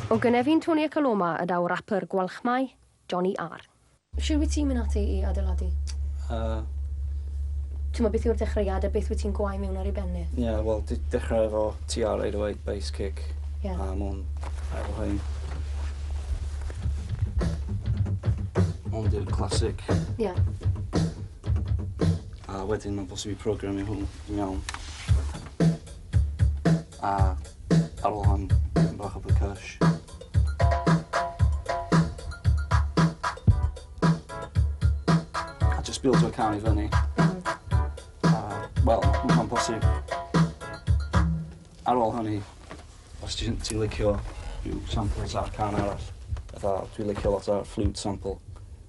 O gynefin Tony a Coloma y daw rapper Gwalchmai, Johnny R. Shwt wyt ti'n mynd ati i adeiladu? Yy... T'mod beth yw'r dechreuad a beth wyt ti'n gwau mewn ar ei ben e? Ie wel d- dechrau efo TR eight oh eight bass kick... Ie. ...a mwn efo hyn. Hwn di'r classic. Ie. A wedyn ma'n bosib i programio hwn. Yn iawn. A ar ôl hon, tipyn bach o percush. A just build y can i fyny. A, wel, mae'n bosib. Ar ôl hynny, os ti'n ti licio rhyw samples ar can arall, fatha dwi'n licio lot o'r flute sample,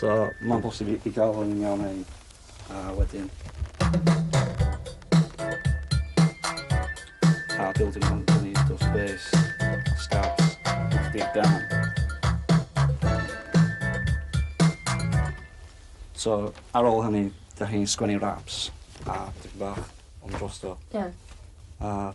So, mae'n bosib i, i gael hwn yn iawn hyn, a wedyn... A building on the need of space, starts, knock it down. So, ar ôl hynny, da chi'n sgwennu raps, a dipyn bach ond drosto. Ie. Yeah. A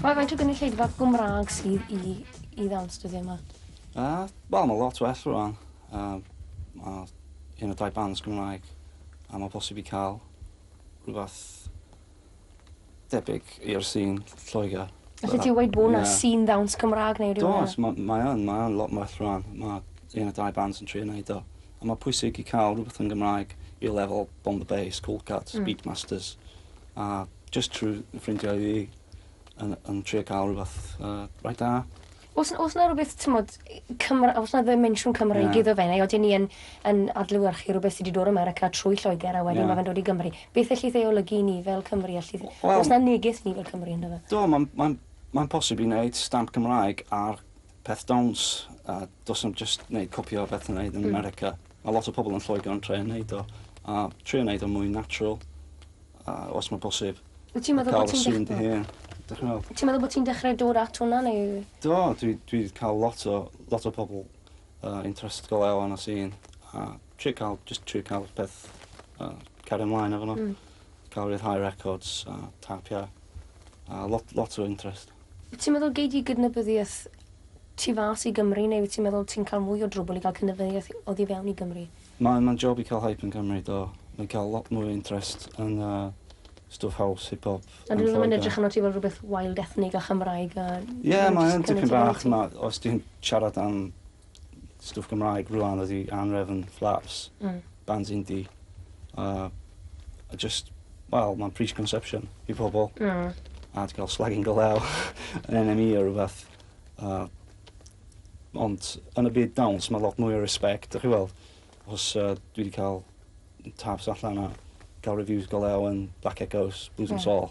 Mae faint o gynulleidfa Gymraeg sydd i i ddanstudio yma? Uh, Wel, mae lot well rwan. Uh, mae un o dau bands Gymraeg a mae posib i cael rhywbeth debyg i'r sîn Lloegr. Felly ti'n gweud bod yna sîn ddawns Gymraeg neu rhywbeth? Does, mae ma yn, mae yn lot yn well rwan. Mae un o dau bands yn trio wneud o. A mae pwysig i cael rhywbeth yn Gymraeg i lefel Bomb the Bass, Cold Cuts, mm. Beatmasters. A jyst trwy fy ffrindiau fi yn yn trio ca'l rwbath yy reit da. O's n- o's 'na rwbeth t'mod yy Cymra- o's 'na ddimensiwn Cymreig... Ie. ...iddo fe neu odyn ni yn yn adlewyrchu rwbeth sy 'di dod o 'Merica trwy Lloeger a wedyn... Ie. ...ma' fe'n dod i Gymru? Beth ellith ei olygu i ni fel Cymry ellith... W- wel... ...o's 'na neges ni fel Cymry ynddo fe? Do ma'n ma'n ma'n posib i neud stamp Cymraeg ar peth dawns a do's na'm jyst neud copio o beth ti'n neud yn 'Merica. Mae lot o pobl yn Lloegr yn trio neud o a trio neud o'n mwy natural a os mae bosib. Wyt ti'n meddwl bod ti'n dechre... Cael fy sŵn dy hun. Dych chi'n meddwl? Wyt ti'n meddwl bod ti'n dechre dod at hwnna neu...? Do dwi dwi cael lot o lot o pobl uh, interest go lew yn y sîn a trio cael just trio cael peth uh, cario ymlaen efo nhw. Mm. Cael rhyddhau records a tapia a lot lot o interest. Wyt ti'n meddwl gei di gydnabyddiaeth tu fas i Gymru neu wyt ti'n meddwl ti'n cael mwy o drwbwl i gael cydnabyddiaeth oddi fewn i Gymru? Mae mae'n job i cael hype yn Cymru do. Mae'n cael lot mwy o interest yn yy stwff house, hip hop yn Lloegr. Ond 'dyn nhw ddim yn edrych arnot ti fel rhywbeth wild ethnig a Chymraeg a... Ie mae yn tipyn bach ma' os ti'n siarad am stwff Gymraeg rŵan ydi Anhrefn, Flaps. Hmm. Bands indie. A a jyst wel ma'n preconception i pobol. Hmm. A 'di ga'l slagging go lew yn NME a rwbeth a ond yn y byd dawns ma' lot mwy o respect dych chi weld. Os yy dwi 'di ca'l taps allan a ca'l reviews go lew yn Black Echoes, Blues and Soul.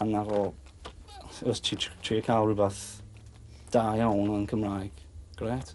A 'na fo. Os ti tr- trio ca'l rwbath da iawn yn Cymraeg, grêt.